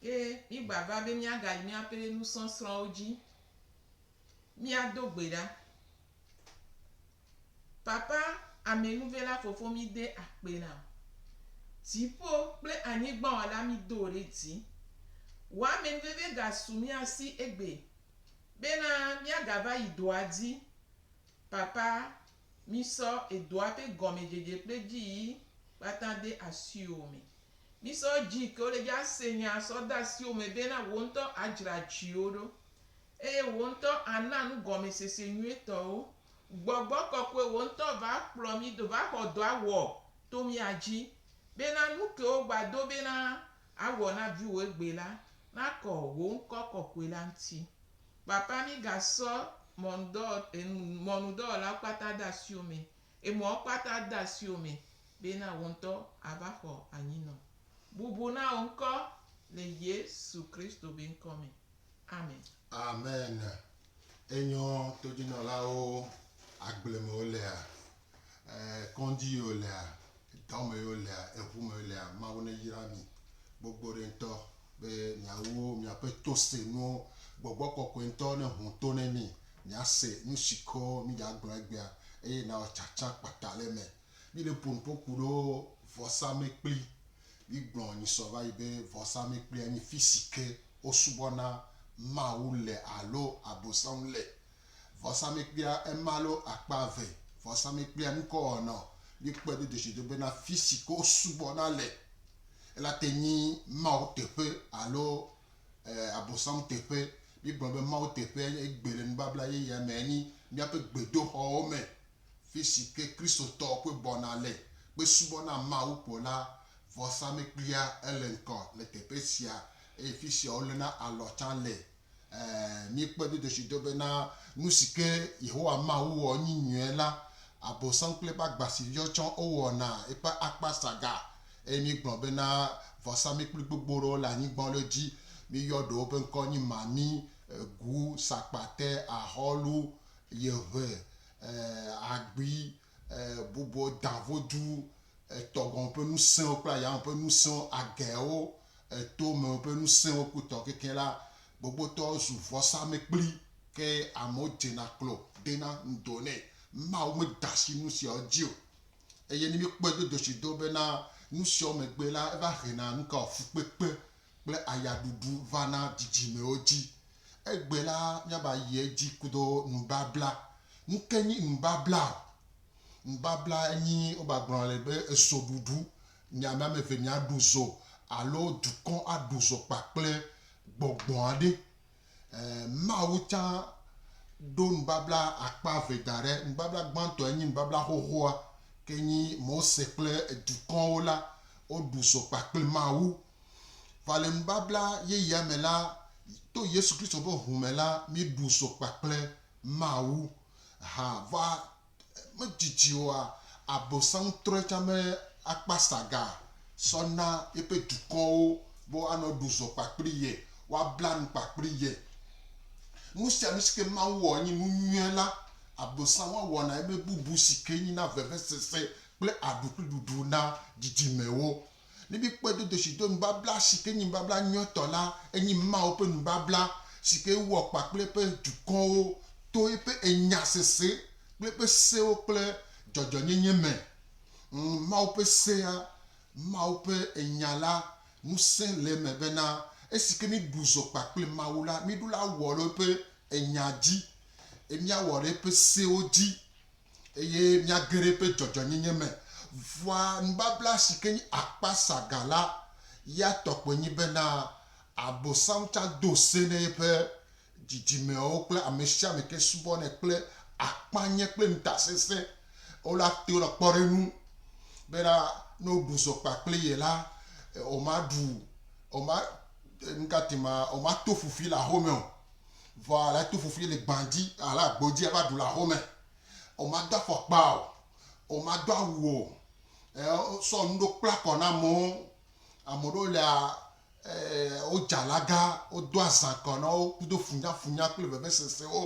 Ke mígbava be míagayi míaƒe nusɔsrɔ̃wo dzi. Míado gbe ɖa. Papa Amenuvela Fofo míde akpe na wò. Dziƒo kple anyigba Wɔla mído wò ɖe dzi. Wò amenuveve gasu mía si egbee bena míagava yi dɔa dzi. Papa mísɔ edɔa ƒe gɔmedzedze kple dziyiyi kpata de asiwò me. Mísɔ dzi ke wole dzi ase nyaa sɔ de asiwò me be na wò ŋutɔ adzra dziwò ɖo eye wò ŋutɔ ana nugɔmesese nyuitɔ wo. Gbɔgbɔ kɔkɔe wò ŋutɔ va kplɔ mí do va xɔ dɔa wɔ to mía dzi be na nu ke wogba do be na awɔ na viwò egbe la nakɔ wò ŋkɔ kɔkɔe la ŋuti. Papa mí ga sɔ mɔnudɔ, mɔnudɔwɔlawo kpata de asiwò me Emɔwo kpata de asiwò me bena wò ŋutɔ ava xɔ anyinɔ. Bubu na wò ŋkɔ le Yesu Kristo be ŋkɔ me. Amen. Amen. Enyɔ todzinɔlawo agble me wolea? E kɔndzi yi wolea? Dɔ me yo lea, eʋu me yo lea, Mawu ne yra mi gbogbo ɖe ŋutɔ be mia wo mia ƒe to se nuwo. Gbɔgbɔ kɔkɔe ŋutɔ ne ŋu to ne mi, mia se nu si ko mi dza gblɔ egbea eye na wɔ tsatsa kpata le eme. Mi ɖe ƒo nu ƒo ku ɖo vɔsa mekpli. Mi gblɔ nyi sɔ va yi be vɔsa mekplia nyi fisi ke wo subɔ na Mawu le alo abosaŋu le. Vɔsamlekpuia ema lo akpa eve vɔsamlekpuia nukɔwɔnɔ mi kpe do dzesido bena fisi ke wo subɔ na le ela te nyi Mawu teƒe alo e abosam teƒe. Mi gblɔ be Mawu teƒea nye egbe le nubabla yeyea me enyi miaƒe gbedoxɔwo me fisi ke Kristotɔwo kpe bɔna le kpe subɔ na Mawu kpo la. Vɔsamlekpuia ele ŋkɔ le teƒe sia eye fisia wo lena alɔ tsa le Ɛ̃, míekpɔe do dzesi do bena nu si ke Yehowa Mawu wɔ nyi nyuie la, Abosam kple eƒe agbasiviwo tsã wowɔna eƒe akpa saga. Eye míegblɔ bena vɔsamlekpui gbogbo ɖewo le anyigba ɖe dzi. Míeyɔ ɖewo ƒe ŋkɔ nye mami, gu, sakpate, ahɔlu, yeʋe, ɛ̃, agbi, Bubuɔ dã vodu etɔ gɔme ƒe nusẽwo kple ayame ƒe nusẽwo, agɛwo, eto me ƒe nusẽwo ku tɔ kekeɛ la, gbogbotɔ zu vɔsamɛkpli, ke amewo dzena klo ɖena ŋdo nɛ. Mawu meda asi nusiawo dzi o. Eye ne míkpɔe dodoshi do bena nusiawo megbe la, eva hena nukaɔ? Fukpekpe kple ayaɖuɖu va na dzidzimewo dzi. Egbe la, míava yi edzi kudo nubabla. Nuke nyi nubabla o? Nubabla nyi wogagblɔ nɛ be ezoɖuɖu. Mia ame ame eve miaɖu zo alo dukɔ aɖu zo kpakple gbɔgbɔ aɖe. Mawu tsã ɖo nubabla akpa eve da ɖe. Nubabla gbãtɔe nyi nubabla xoxoa, ke nyi Mose kple dukɔwo la woɖu zo kpakple Mawu. Vɔ le nubabla yeyea me la, to Yesu Kristo ƒe ŋu me la, míɖu zo kpakple Mawu hã. Vɔ Medzidzi oa, Abosam trɔe tsã be akpa saga sɔ na yeƒe dukɔwo be woanɔ ɖu zɔ kpakpli ye, woabla nu kpakpli ye. Nu sia nu si ke Mawu wɔ enye nu nyuie la, Abosam hã wɔna eme bubu si ke nyina vevesese kple aɖukliɖuɖu na dzidzimewo. Ne míekpɔe do doshi do nubabla si ke nye nubabla nyuietɔ la, enye Mawu ƒe nubabla si ke ewɔ kpa kple eƒe dukɔwo to eƒe enya sese kple eƒe sewo kple dzɔdzɔnyenye me. Ŋ, Mawu ƒe sea, Mawu ƒe enya la, ŋusẽ le eme bena esi ke míeɖu zɔ kpa kple Mawu la, míeɖo la wɔ ɖe eƒe enya dzi, eye míawɔ ɖe eƒe sewo dzi. Eye mía geɖe ƒe dzɔdzɔenyenye me vɔa nubabla si ke nye akpa saga la ya tɔ koe nye bena Abosam tsã do se ne yeƒe dzidzimewo kple amesiame ke subɔnɛ kple akpanye kple ŋutasesẽ. Wola te le kpɔ ɖe enu bena ne woɖu zɔ kpa kple ye la, woma ɖu, woma, nukati ma, woma to ƒuƒui le axome o. Vɔ ale ato fofli le gbã dzi, ale agbo dzi ava ɖu le aho me. Womado afɔkpa o, womado awu o, e, wosɔ nu ɖewo kpla kɔ na amewo. Ame ɖewo lea, e, wodze alaga, wodo azã kɔ na wo kudo funyafunya kple vevesesewo.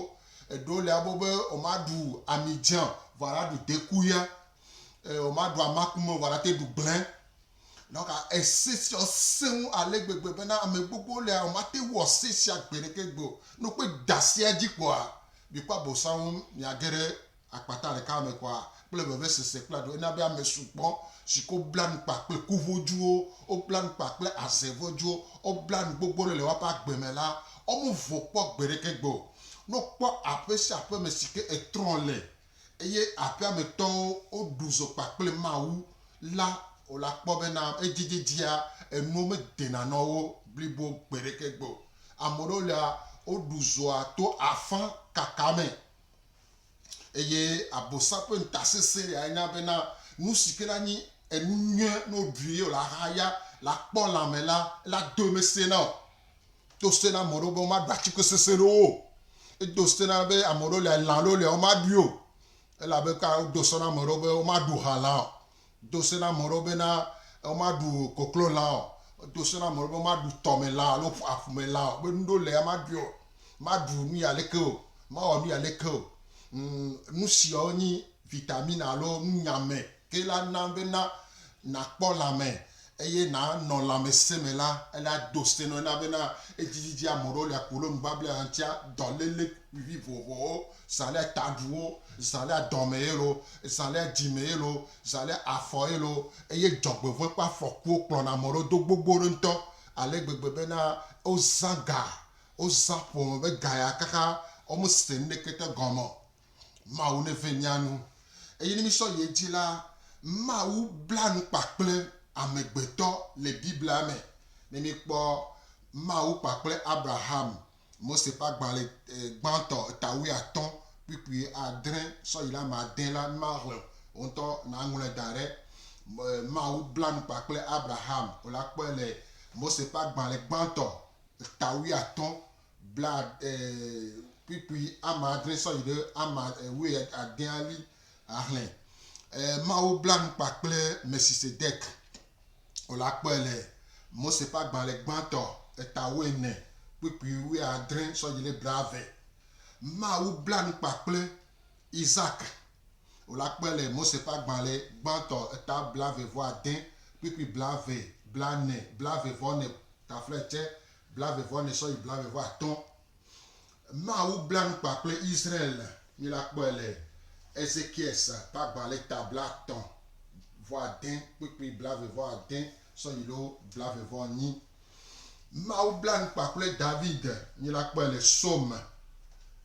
Eɖewo lea be be womaɖu ami dze o, vɔ ale aɖu deku ya. E, womaɖu amakume o, vɔ ale ate ɖu gblẽ. Nɔ ka ese sia sẽ ŋu ale gbegbe bena ame gbogbowo le hã womate ŋu woase esia gbeɖeke gbe o. Ne wokpe da sia dzi kpɔa, mikpɔ Abosam ŋu miage ɖe akpata ɖeka me kɔa? kple vevesese kple aɖu. Ena be ame sugbɔ si ke wobla nu kpa kple ku ʋɔdzuwo, wobla nu kpa kple aze ʋɔdzuwo, wobla nu gbogbo aɖe le woaƒe agbe me la, womevɔ̃ kpɔ gbeɖeke gbe o. Ne wokpɔ aƒe sia aƒe me si ke etrɔ le eye aƒea me tɔwo woɖu zɔ kpakple Mawu la, o la, kpɔ bena edzedzedzia enuwo medena nɔ wo blibo gbeɖeke gbe o. Ame ɖewo lia, woɖu zɔa to afã kaka me, eye Abosam ƒe ŋutasesẽ ɖea nya bena nusike la nyi enu nyuie ne woɖui ye o la hã ya la kpɔ lãme la, ela doe mesena o. Do se na ame ɖewo be womaɖu atike sesẽ ɖewo o. Edo se na be ame ɖewo lia, lã ɖewo lia womaɖui o. Elabe kura wodo se na ame ɖewo be womaɖu halã o. Do se na ame ɖewo bena womaɖu koklolã o. Edo se na ame ɖewo be womaɖu tɔmelã alo aƒumelã o. Be nu ɖewo lia womaɖui o. Maɖu nu ya leke o. Mawɔ nu ya leke o. Ŋ, nu siawo nyi vitamini alo nunyame Ke la na be na nàkpɔ lãme eye nànɔ lãmesẽ me la, ele ado se na wo na be na edzidzi ame ɖewo le akpo lɔ nubablɛ aŋtia dɔlele vivivovowo, zã le taɖuwo, zã le dɔme ye lo, zã le dzime ye lo, zã le afɔ ye lo, eye dzɔgbevɔ̃e kple afɔkuwo kplɔna ame ɖewo do gbogbo ɖe ŋutɔ ale gbegbe be na wozã ga, wozã ƒome be ga ya kaka womese nuɖekete gɔme o. Mawu neve mía nu. Eye ne mísɔ yi edzi la, Mawu bla nu kpakple amegbetɔ le Biblia me. Ne míkpɔ Mawu kpakple Abraham, Mose ƒe agbalẽ gbãtɔ eta wuiatɔ̃ kpukpui adre sɔ yi ɖe ame ade la, mímahlẽ o ŋutɔ nàŋlɔe da ɖe. Mawu bla nu kpakple Abraham. Wole akpɔe le Mose ƒe agbalẽ gbãtɔ eta wuiatɔ̃ blaekpukpui ame adre sɔ yi ɖe ame wuiadea ɣi ahlẽ. Mawu bla nu kpa kple Melchisedek wòle akpɔe le Mose ƒe agbalẽ gbãtɔ eta wuiene, kpukpui wuiadre sɔ yi ɖe blaeve. Mawu bla nu kpa kple Isak wòle akpɔe le Mose ƒe agbalẽ gbãtɔ eta blaeve-vɔ-ade, kpukpui blaeve, blane, blaeve-vɔ-ne, taflaetse Blaeve-vɔ-ene sɔ yi blaeve-vɔ-atɔ̃. Mawu bla nu kpa kple Israel. Mila kpɔe le Ezekiel sa ƒe agba le ta blatɔ̃ vɔ ade kpukpui blaeve vɔ ade sɔ yi lo blaeve vɔ nyi. Mawu bla nu kpa kple David. Mila kpɔe le Psaume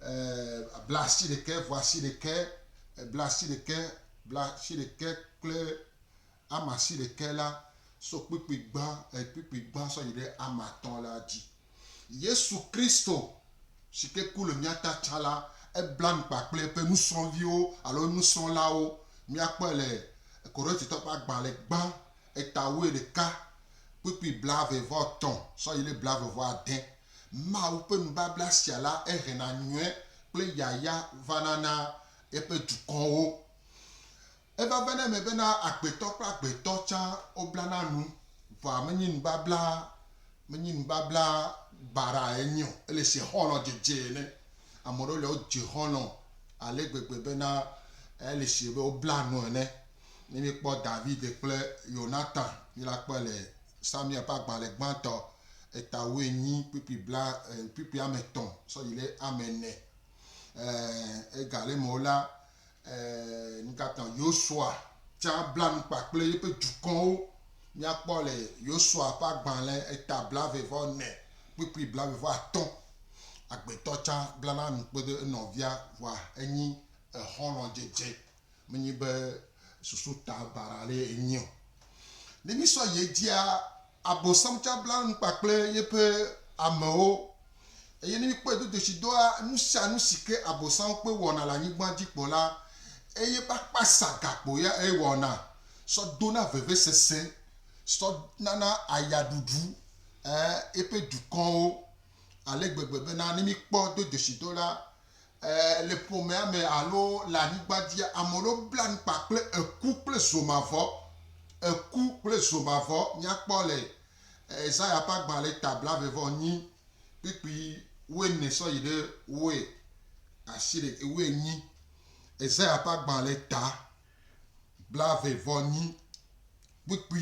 e blasi ɖekɛ vɔ asi ɖekɛ e blasi ɖekɛ blasi ɖekɛ kple ame asiɖekɛ la so kpukpui gbã, kpukpui gbã sɔ yi ɖe ame atɔ̃ la dzi. Yesu Kristo si ke ku le mía ta tsã la, ebla nu kpa kple eƒe nusrɔ̃viwo alo enusrɔ̃lawo. Míakpɔe le Korintitɔwo ƒe agbalẽ gbã eta wuiɖeka, kpukpui blaeve vɔ etɔ̃ sɔ yi ɖe blaeve vɔ ade. Mawu ƒe nubabla sia la, ehena nyɔe kple yayra vana na eƒe dukɔwo. Eva va na eme bena agbetɔ kple agbetɔ tsã woblana nu. Vɔa menye nubabla, menye nubabla baɖa enye o. Ele se xɔlɔ̃ dzedze ene. Ame ɖewo lia wodze xɔlɔ̃ ale gbegbe bena ele se be wobla nu ene. Ne míekpɔ David kple Yonatan, míla kpɔe le Samuel ƒe agbalẽ gbãtɔ eta wuienyi kpukpui bla e kpukpui ame etɔ̃ sɔ yi ɖe ame ene. E ega ɖe me wo la, Ɛ̃, nukatã Yosua tsã bla nu kpa kple yeƒe dukɔwo? Míakpɔ le Yosua ƒe agbalẽ eta blaeve-vɔ-ene kpukpui blaeve-vɔ-atɔ̃. Agbetɔ tsã blana nu kpedo enɔvia vɔa enyi exɔlɔ̃dzedze, menye be susu ta baɖa aɖee enye o. Ne mísɔ yi edzia, Abosam tsã bla nu kpa kple yeƒe amewo. Eye ne míkpɔe do dzesi dɔa nu sia nu si ke Abosam kpe wɔna le anyigba dzi kpɔ la, eye ƒe akpa sa gakpo ya ewɔna sɔ dona vevesese sɔ nana ayaɖuɖu eƒe dukɔwo ale gbegbe bena ne míkpɔ do dzesi dɔ la, le ƒomea me alo le anyigba dzia, ame ɖewo bla nu kpa kple eku kple zo mavɔ. Eku kple zo mavɔ míakpɔ le Ezaya ƒe agbalẽ ta blave vɔ nyi kpikpi wuiene sɔ yi ɖe wue asi ɖe wuienyi. Ezaya ƒe agbalẽ ta blave vɔ nyi kpikpi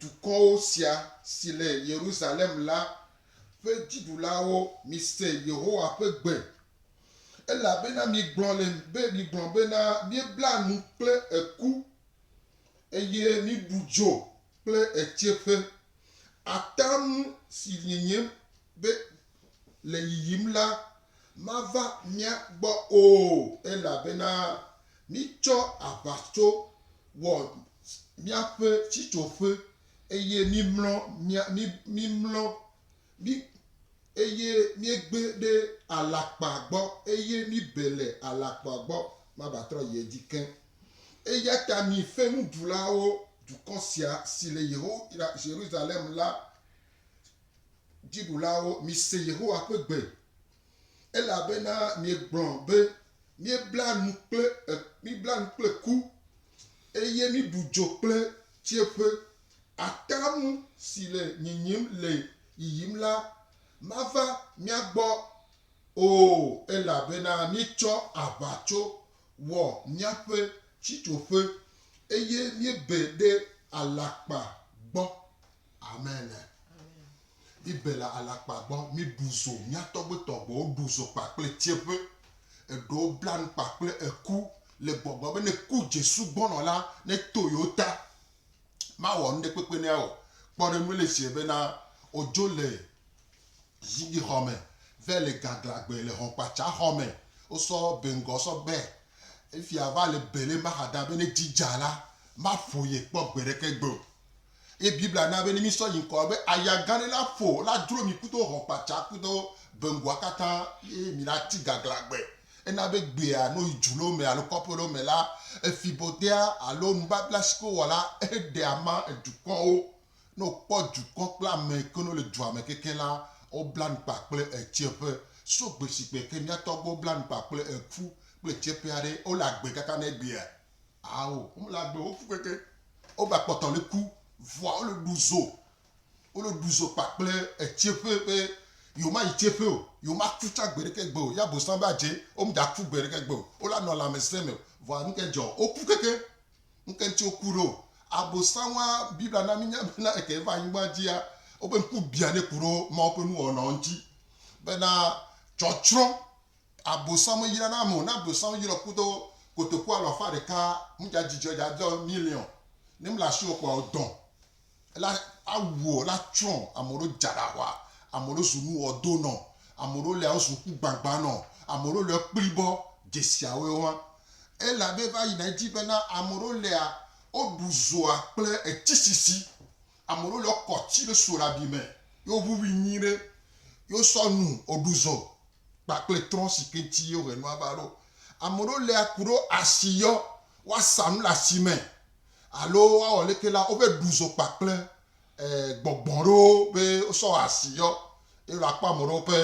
dukɔwo sia si le Yerusalem la ƒe dziɖulawo, mise Yehowa ƒe gbe, elabena miegblɔ le be, miegblɔ bena, Míebla nu kple eku, eye míeɖu dzo kple etseƒe. Atam si nyenyem be le yiyim la mava mía gbɔ o, elabena míetsɔ aʋatso wɔ míaƒe sitsoƒe, eye míemlɔ, míemlɔ, mí, eye míegbe ɖe alakpa gbɔ, eye míebe le alakpa gbɔ, mavatrɔ yi edzi ke. Eya ta mi fenuɖulawo, dukɔ sia, si le Yehowa, Yerusalem la, Dziɖulawo, mise Yehowa ƒe gbe, elabena miegblɔ be, Míebla nu kple, míebla nu kple ku, eye míɖu dzo kple tsiẽƒe. Atamu si le nyinyim le yiyim la mava mía gbɔ o, elabena míetsɔ aʋatso wɔ míaƒe sitsoƒe, eye míebe ɖe alakpa gbɔ. Amen. Mi be le alakpa gbɔ mi ɖu zo. Mia tɔgbe tɔgbe wo ɖu zo kpa kple tsieƒe. Eɖewo bla nu kpa kple eku le gbɔgblɔ be ne ku Jesu gbɔ nɔ la ne to yewo ta. Ma wɔ nuɖe kpekpe ne ya o. Kpɔ ɖe nue le fiɛ be na wo dzo le zigbi xɔ me vɛ le gagla gbe le hɔnkpatsa xɔ me. Wo sɔ be ŋgɔ sɔ be efia va le be le ma xada be ne dzi dza la ma ƒo ye kpɔ gbe ɖeke gbe o. Eye Biblia na be ne mísɔ yi ŋkɔ be aya gã aɖe la ƒo la dro mi kudo hɔ̃ kpatsa kudo beŋgɔa katã eye mi la ti gagla gbe. Ena be gbea no yi dzu lo me alo kɔƒe lo me la, efi bodea alo nubabla si ke wowɔ la eɖe ama edukɔwo. Ne wokpɔ dukɔ kple ame ke no le dua me keke la, wobla nu kpa kple etsiɛƒe. So gbe si gbe ke mía tɔgbuiwo bla nu kpa kple eƒu kple etsiɛƒe aɖe, wole agbe kaka ne egbea Ao, wome la ɖo woku keke, wova kpɔtɔ le ku, vɔa wole ɖu zo, wole ɖu zo kpakple etseƒe be yewoma yi tseƒe o, yewoma ku tsa gbeɖeke gbe o, ya bosam va dze, wome dza ku gbeɖeke gbe o, wola nɔ lãmesẽ me o, vɔa nuke dzɔ? Woku keke, nuke ŋuti woku ɖo? Abosanwa, Biblia na mi nya bena eke va anyigba dzia, woƒe ŋku bia ne ku ɖo Mawu ƒe nuwɔnawo ŋuti, bena tsɔtsrɔ̃ Abosam meyra na ame o, ne abosam yrɔ kudo kotoku alo afa ɖeka mu dza dzidzɔe dza dɔ miliɔn ne mle asi o kɔa odɔn la awuɔ la tsrɔn ame ɖo dza ɖa xɔa ame ɖo zu nu wɔ do nɔ ame ɖo lea ozu ŋku gbagba nɔ ame ɖo lea kpli bɔ dzesia woe wa ela be va yina edzi be na ame ɖo lea oɖu zoa kple etsi sisi Ame ɖewo le wo kɔ tsi ɖe so ɖe abi me ye wo ʋuʋui nyuie ɖe ye wo sɔ nu wo ɖu zɔ kpakple trɔ̃ si ke ŋuti ye wo he nua va ɖo. Ame ɖewo le aku ɖe asi yɔ woa sa nu le asi me alo woa wɔ leke la wo ve ɖu zɔ kpakple gbɔgbɔ ɖewo be wo sɔ wɔ asi yɔ ye la kpɔ ame ɖewo ƒe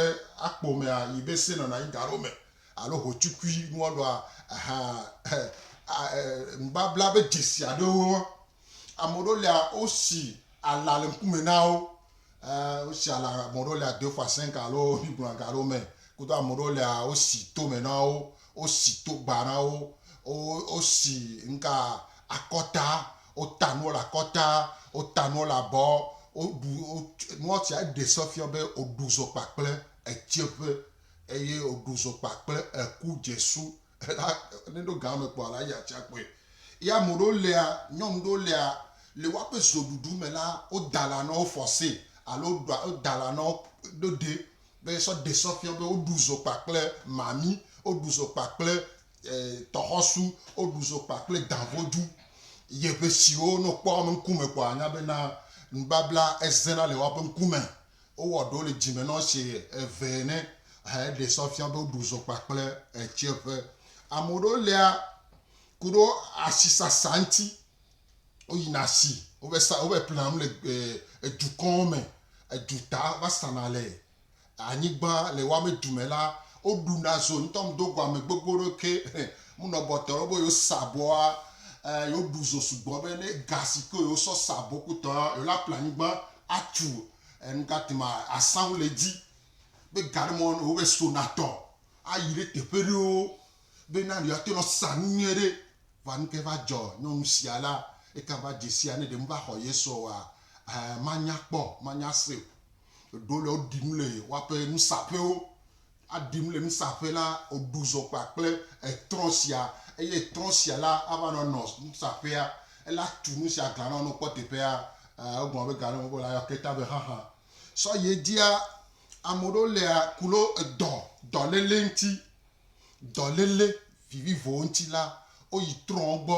akpo mea yi be se nɔna anyi ga ɖewo me alo ho tsukui nua ɖoa ehaa nubabla be dzesi aɖewo Ame ɖewo lia, wosi ala le ŋkume na wo. Ɛɛ, wosi ala, ame ɖewo lia deux fois cinq alo mígblɔna ga ɖewo me. Kudo ame ɖewo lia, wosi tome na wo, wosi togba na wo, wo, wosi ŋka, akɔta, wota nuwo le akɔta, wota nuwo le abɔ, woɖu, wo, nua sia eɖe se fia be woɖu zokpa kple etsɛƒe. Eye woɖu zokpa kple eku dzesu. Ela ne ɖo ga me kpɔ ala ya tsia kpɔe. Ya ame ɖewo lea, nyɔnu ɖewo lea, le woaƒe zoɖuɖu me la, woda la nɔ wo fɔse alo woɖa woda la nɔ ɖo ɖe be sɔ ɖe sɔ fiɔ be woɖu zo kpakple mami, woɖu zo kpakple e, tɔxɔsu, woɖu zo kpakple davodu. Ye ʋe siwo ne wokpɔ ame ŋkume kpɔ anya be na nubabla ezena le woaƒe ŋkume. Wowɔ ɖewo le dzime nɔ zi eve ene heɖe sɔ fia be woɖu zɔ kpakple ɣetsiɛƒe. Ame ɖewo lia ku ɖo asisasa ŋti. Woyina asi, wovɛ sa, wovɛ plena nu le edukɔwo me, eduta va sana le anyigba le woa me dume la, woɖuna zo ŋtɔ ŋdo guame gbogbo ɖo ke munɔ bɔtɔ ɖo be yewo sabɔa, yewo ɖu zo sugbɔ be ne ga sike yewo sɔ sabɔ kutɔa, yewo la ple anyigba Atu enugati ma asawo le edzi be gaɖe mɔ ne wobe so natɔ ayi ɖe teƒe ɖewo be na yewoate ŋu asa nu nyuie ɖe. Vɔa nu kae va dzɔ nyɔnu sia la? Eka va dze sia ne ɖe meva xɔ ye sɔa? Ẽ, manya kpɔ, manya se o. Eɖewo le woɖi nu le woaƒe nusaƒewo aɖim le nusaƒe la, wòɖu zɔ kpakple etrɔ̃ sia, eye trɔ̃ sia la ava nɔ nɔ nusaƒea. Ele atu nu sia glã nɔ nokpɔ teƒea. Aa, egblɔ be ga ɖe wòle ayɔ kleta be xaxa. Sɔ yi edzia, ame ɖewo lia ku ɖo edɔ, dɔléle ŋuti, dɔléle vivivo ŋuti la, woyi trɔ̃wo gbɔ,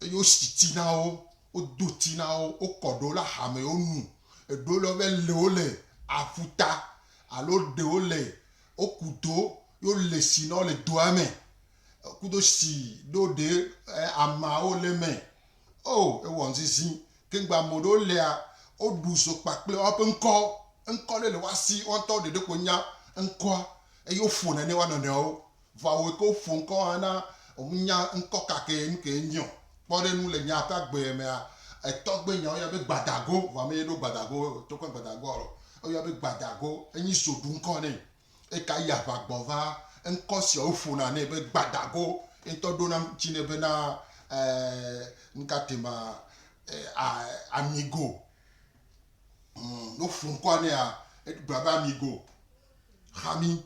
eye wosi ti na wo, wodo ti na wo, wokɔ ɖewo le axame, wonu, eɖewo le woƒe lewo le aƒuta, Alo ɖe wo le wo ku do yo le si nɔ le doa mɛ kudo si ɖo ɖe ama wo le mɛ o e wɔ ŋzizi keŋgba mo ɖe wo lea wo ɖu zo kpakple wa ƒe ŋkɔ ŋkɔ ɖe le wa si wa ŋtɔ ɖe ɖe ko nya ŋkɔa eye wo ƒo na ne wa nɔnɔewo Vɔ wòe ke woƒo ŋkɔ hã na ŋunya ŋkɔ ka kee nu kee nye o. Kpɔ ɖe nu le nyaa ƒe agbe mea, etɔgbe nya woyɔna be gbadago, vɔ ame ye ɖo gbadago tokɔ gbadagoa lɔ, woyɔna be gbadago, enyi soɖu ŋkɔ nɛ. Eka yi aʋa gbɔ va, ŋkɔ sia woƒona nɛ be gbadago, ye ŋutɔ ɖona ŋuti nɛ be na e nuka te ma a amigo. Hm, ne woƒo ŋkɔa nɛa, egblɔna be amigo. Hami,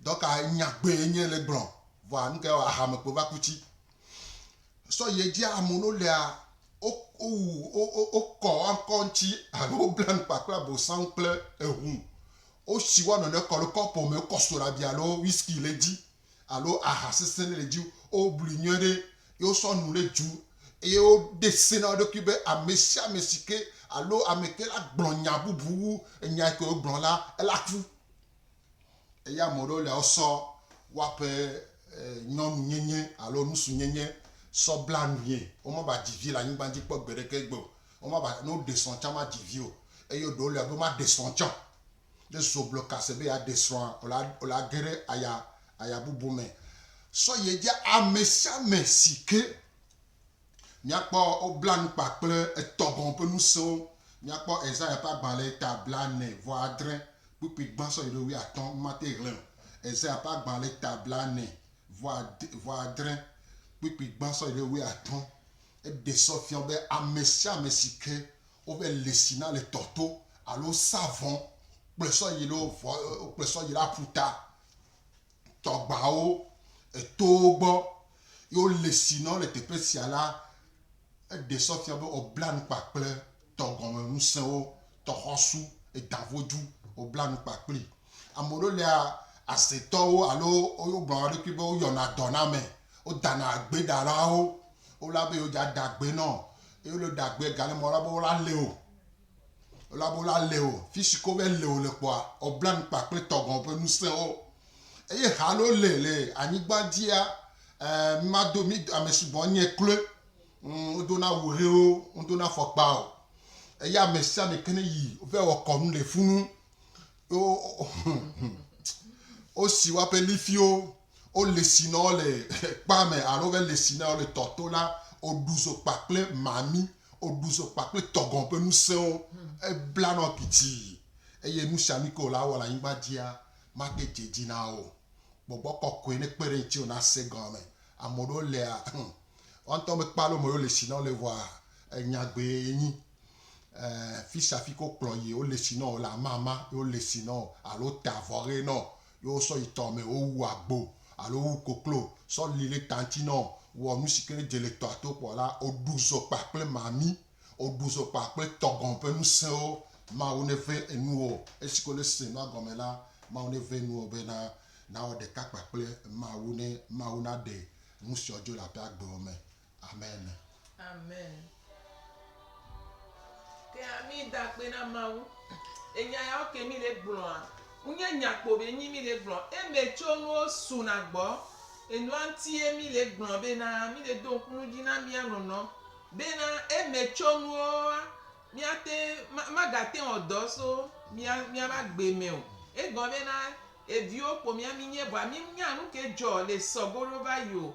Dɔka nya gbee nye le gblɔ vɔ anu ke wa hame kpo va ku ci. Sɔ ye dzi amo no lea o o wu o o o kɔ ankɔ ŋci alo o bla nu kpakple abosan kple ehu. O si wa nɔnɔe kɔ lo kɔpo me kɔ soɖa bia alo whisky le dzi. alo aha sesẽ ɖe le dzi o, woblui nyuie ɖe ye wosɔ nu ɖe dzu eye woɖe se na wo ɖokui be ame sia ame si ke alo ame ke la gblɔ nya bubu wu enya yi ke wogblɔ la, ela ku. Eye ame ɖewo lia wosɔ woaƒe nyɔnunyenye alo nusunyenye sɔ bla nue, womava dzi vi le anyigba dzi kpɔ gbeɖeke egbe o, womava ne woɖe srɔ̃ tsã mamadzi vi o eye ɖewo lia wobe maɖe srɔ̃ tsã o. ɖe zogblɔ ka se be yeaɖe srɔ̃a, o la ge ɖe aya, aya bubu me. Sɔ yi edzi amesiame si ke míakpɔ wobla nu kpa kple etɔ gɔ̃ ƒe ŋusẽwo. Míakpɔ Esaya ƒe agbalẽ ta blaene vɔ adre kpukpui gbã sɔ yi ɖe wuiatɔ̃. Womate ŋu xlẽ o. Esaya ƒe agbalẽ ta blaene vɔ adre kpukpui gbã sɔ yi ɖe wuiatɔ̃. Eɖe sɔ fia be amesiame si ke woƒe lesi na le tɔ to alo sa vɔ kple sɔ yi lo vɔ kple sɔ yi la ƒuta tɔgbawo etowo gbɔ yo lesi nɔ le teƒe sia la eɖe sɔ fia be obla nukpa kple tɔgɔme ŋusẽwo tɔxɔsu edavodu obla nukpa kpli amoɖo lea asetɔwo alo yo gblɔ wa ɖokui be woyɔna dɔname wodana agbeɖalawo wola be yo dza dagbe nɔ Eye wole ɖe agbe gale mɔ la be wo la le o. Wo la be wo la le o. Fisi ke wo be le o le kpɔa, wo bla nu kpa kple tɔgɔn ƒe nusẽ wo. Eye ha le wo le le anyigba dzia, eh, mi ma do, mi do, ame si bɔ nye kloe. Ŋ, wo do na wu ɣewo, wo do na fɔkpa o. Eye ame sia ame ke ne yi, wo vɛ wɔ kɔnu le funu. wosi woaƒe lifiwo, wole si na wo le kpa me alo wove le si na wo le tɔ to la, woɖu zo kpakple mami, woɖu zo kpakple tɔgɔn ƒe ŋusẽwo, ebla nɔ pitii, eye nu sia nu ke wòle awɔ le anyigba dzia, mate dze edzi na wo o. Gbɔgbɔ kɔkɔe nekpe ɖe ŋuti wò nase gɔme. Ame ɖewo lea, woawo ŋutɔ mekpɔa aleke wome yewole si na wo le vɔa, nyagbee enyi. eh, fishafi ko kplɔ yi wo lesi nɔ le amama ye wo lesi nɔ alo te avɔ ɣe nɔ ye wo sɔ yi tɔ me wo wu agbo alo wu koklo sɔ li le tanti nɔ wɔ nu si ke ne dze le tɔa to kpɔ la wo ɖu zo kpa kple mami wo ɖu zo kpa kple tɔgɔn ƒe ŋusẽwo Mawu ne ve enuwo esi ko ne se nua gɔme la Mawu ne ve enuwo be na nawɔ ɖeka kpa kple Mawu ne Mawu na ɖe nu siwo dzo le aƒea gbewo me Amen. Amen. Ke ami da akpe na Mawu. Enya yawo ke mi le gblɔa, wonye nya kpo be nyi mi le gblɔ. Eme tso nuwo suna gbɔ. Enua ŋutie mi le gblɔ bena mi le do ŋku nu dzi na mia nɔnɔ bena eme tso nuwoa, miate, magate ŋu ɔdɔ so mia, miabe agbe me o. Egɔ bena eviwo kpo mia mi nye vɔa mi nya nuke dzɔ le sɔgo ɖo va yi o.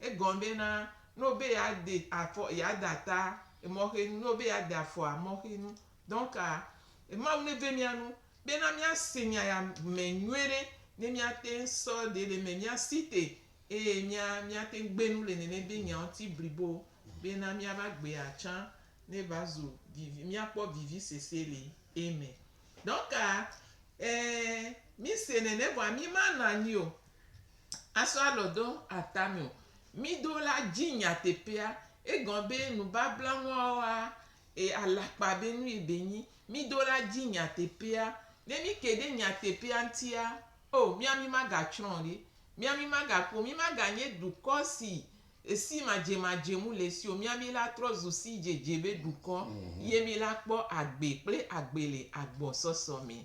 Egɔn be na, no be ya de afɔ, ya da ta emɔ xe nu, no be ya de afɔ amɔ xe nu. Donc, Mawu ne ve mia nu be na mia se nya ya me nyuie ɖe, ne mia teŋ sɔ ɖe le eme, mia si te eye mia, mia teŋ gbe nu le nene be nya ŋuti blibo be na mia va gbea tsã ne va zu vivi, mia kpɔ vivi sese le eme. Donc, mi se nene vɔa mi ma nɔ anyi o. asɔ alɔ do ata mɛ o. Mí ɖo la dzi nyateƒea. Egɔme be nubabla ŋɔɔa, e alakpa be nu ye be nyi. Mí ɖo la dzi nyateƒea. Ne mí ke ɖe nyateƒea ŋutia, o mía mí ma ga tsrɔ̃ o ɖe. Mía mí ma ga kpo, mí ma ga nye dukɔ si si madze madze mu le si o. Mía mí la trɔ zu si dzedze be dukɔ ye mí la kpɔ agbe kple agbe le agbɔ sɔsɔ mɛ.